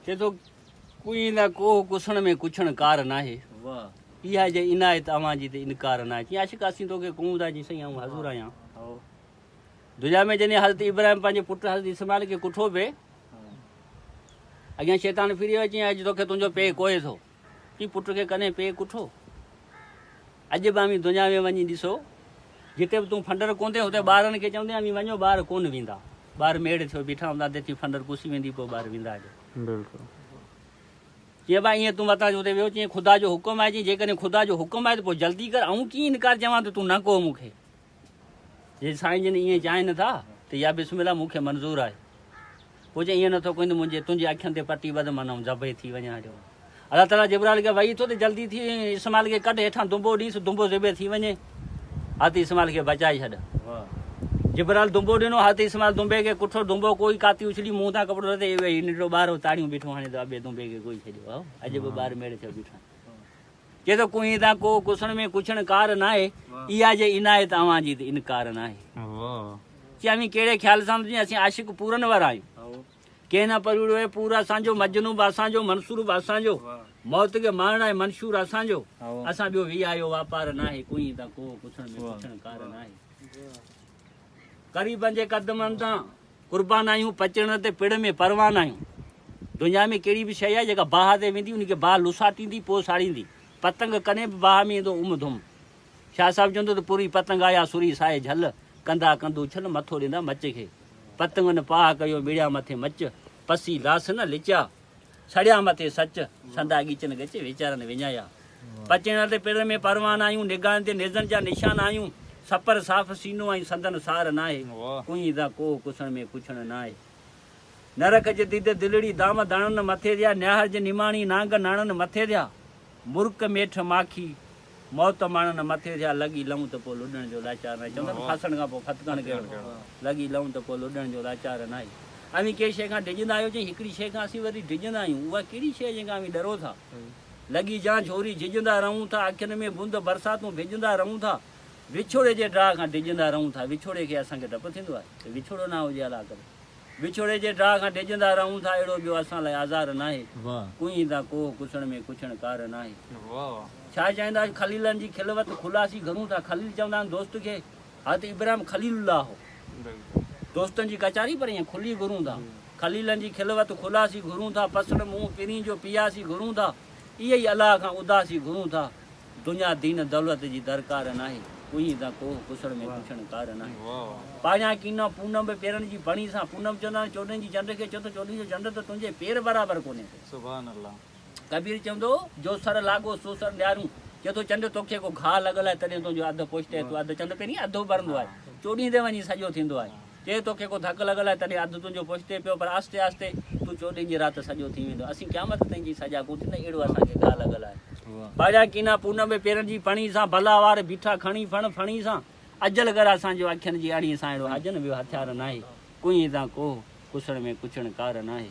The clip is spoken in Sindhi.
چئي ٿو ڪوئين نه ڪوه ڪسڻ ۾ ڪڇڻ ڪار ناهي اها جي عنايت اوهان جي تي انڪار ناهي چئي عاشق اسين توکي ڪون ٿا چئي سائين آئون حضور آهيان دنيا ۾ جڏهن حضرت ابراهيم پنهنجي پٽ حضرت اسماعيل کي ڪٺو پئي اڳيان شيطان ڦري ويو چئي اڄ توکي تنهنجو پي ڪوهي ٿو اي پٽ کي ڪڏهن پيء ڪٺو. اڄ به اوهين دنيا ۾ وڃي ڏسو، جتي به تون ڦنڊر ڪوندين، اتي ٻارڙن کي چوندين اوهين وڃو ٻاهر ڪونه ويندا. ٻاهر ميڙ ٿيو بيٺا هوندا، تيسين ڦنڊر پسي ويندي پوء ٻاهر ويندا جو. چيائين ڀاء ايئن تون متان جو اتي ويهو. چيائين خدا جو حڪم آهي. چيائين جيڪڏهن خدا جو حڪم آهي ته پوء جلدي ڪر. آئون ڪيئن انڪار چوان ته تون نه ڪهه مون کي. جي سائين جن ائين چاهين ٿا ته يا بسم الله مون کي منظور آهي. پوء جي ائين نٿو ڪنده منهنجي تنهنجي اکين تي پٽي ٻڌ من آئون ذبح ٿي وڃان هيٺ. الله تعاليٰ جبرائيل کي وحي ٿو ته جلدي ٿي اسماعيل کي ڪڍ هيٺان دنبو ڏينس دنبو ذبح ٿي وڃي هت اسماعيل کي بچائي ڇڏ. جبرائيل دنبو ڏنو هت اسماعيل دنبي کي ڪٺو دنبو ڪوئي ڪاتي اڇلي منهن تان ڪپڙو لٿي اي وحي ننڍڙو ٻار هو تاڙيون بيٺو هڻي ته ابي دنبي کي ڪوئي ڇڏيو هو اڄ به ٻار ميڙ ٿيو بيٺو آهي. چي ٿو ڪوهين تان ڪوهه ڪسڻ ۾ ڪڇڻ ڪار ناهي اها جي عنايت اوهان جي ته انڪار ناهي چي اوهين ڪهڙي خيال سان سمجهين اسين عاشق پورن وارا آهيون ڪنهن نه پروڙيو اهي پور اسان جو مجنون به اسان جو منصور به اسان جو موت کي مارڻ آهي منشور اسان جو اسان ٻيو ويهه اهو واپار ناهي ڪوهين تان ڪوهه ڪسڻ ۾ ڪڇڻ ڪار ناهي غريبن جي قدمن تان قربان آهيون پچڻ تي پڙ ۾ پروان آهيون دنيا ۾ ڪهڙي به شيء آهي جيڪا باهه تي ويندي ان کي باهه لساٽيندي پوء ساڙيندي پتنگ ڪڏهن به باهه ۾ ايندو عم ڌم شاهه صاحب چوندو ته پوري پتنگ آيا سوري سائي جهل ڪندا ڪند اڇل مٿو ڏيندا مچ کي پتنگن پاهه ڪيو مڙيا مٿي مچ پسي لاس نه لچيا. سڙيا مٿي سچ، سندا ڳچن ڳچ ويچارن وڃايا. پچيڻ تي پرڙ ۾ پروان آهيون، نگاهن تي نيزن جا نشان آهيون، سپر صاف سينو ۽ سندن سار ناهي، ڪنئين ذا ڪوهه ڪسڻ ۾ ڪڇڻ ناهي. نرک جي ديد دلڙي دام داڻن مٿي ڌيا، نياهر جي نماڻي نانگ ناڻن مٿي ڌيا، مرڪ ميٺ ماکي موت ماڻڻ مٿي ٿيا، لڳ ئي لئون ته پوء لڏڻ جو لاچار ناهي. چون ٿا ته ڦاسڻ کان پوء ڦٿڪڻ ڪهڙو؟ لڳ ئي لئون ته پوء لڏڻ جو لاچار ناهي. اوهين ڪنهن شيء کان ڊڄندا آهيو؟ چيائين، هڪڙي شيء کان اسين وري ڊڄندا آهيون. اها ڪهڙي شيء جنهن کان اوهين ڏرو ٿا؟ لڳي جان جهوري جهجندا رهون ٿا، اکين ۾ بوند برساتون ڀيڄندا رهون ٿا، وڇوڙي جي ڊاهه کان ڊڄندا رهون ٿا. وڇوڙي کي اسان کي ڊپ ٿيندو آهي ته وڇوڙو نه هجي الاء ڪڏهن. وڇوڙي جي ڊاهه کان ڊڄندا رهون ٿا اهڙو ٻيو اسان لاء آزار ناهي ڪوهين تان ڪوهه ڪسڻ ۾ ڪڇڻ ڪار ناهي ڇا چائيندا آهيو خليلن جي خلوت خلاصي گهرون ٿا خليل چوندا آهن دوست کي حضرت ابراهيم خليل الله هو دوستن جي ڪچاري پر ائين کلي گهرون ٿا خليلن جي خلوت خلاصي گهرون ٿا پسڻ منهن پرين جو پياسي گهرون ٿا ايئن ئي الله کان اداسي گهرون ٿا. دنيا دين دولت جي درڪار ناهي. ڪوهين تان ڪوهه ڪسڙ ۾ پڇڻ ڪار ناهي. پاڙيان ڪينان پونم به پيرن جي پڻي سان. پونم چوندا آهن چوڏهين جي چنڊ کي چو ته چوڏهين جو چنڊ ته تنهنجي پير برابر ڪونهي ڪو. ڪبير چوندو هو جو سر لاڳو سو سر نيارون. چئي ٿو چنڊ توکي ڪو گهاء لڳل آهي تڏهن تنهنجو اڌ پوشتي آهي تون اڌ چنڊ پيرين اڌ اڀرندو آهي. چوڏهين تي وڃي سڄو ٿيندو آهي. چي توکي ڪو ڌڪ لڳل آهي تڏهن اڌ تنهنجو پشتي پيو پر آهستي آهستي تون چوڏهين جي رات سڄو ٿي ويندو اسين قيامت تائين جي سجا ڪون ٿيندا اهڙو اسان کي گاهه لڳل آهي باجا ڪينا پونم به پيرن جي پڻي سان ڀلا وار بيٺا کڻي ڦڻ ڦڻي سان اجل گر اسان جو اکين جي اڻي سان اهڙو آجن ويو هٿيار ناهي ڪنهين تان ڪوهه ڪسڻ ۾ ڪچڻ ڪار ناهي.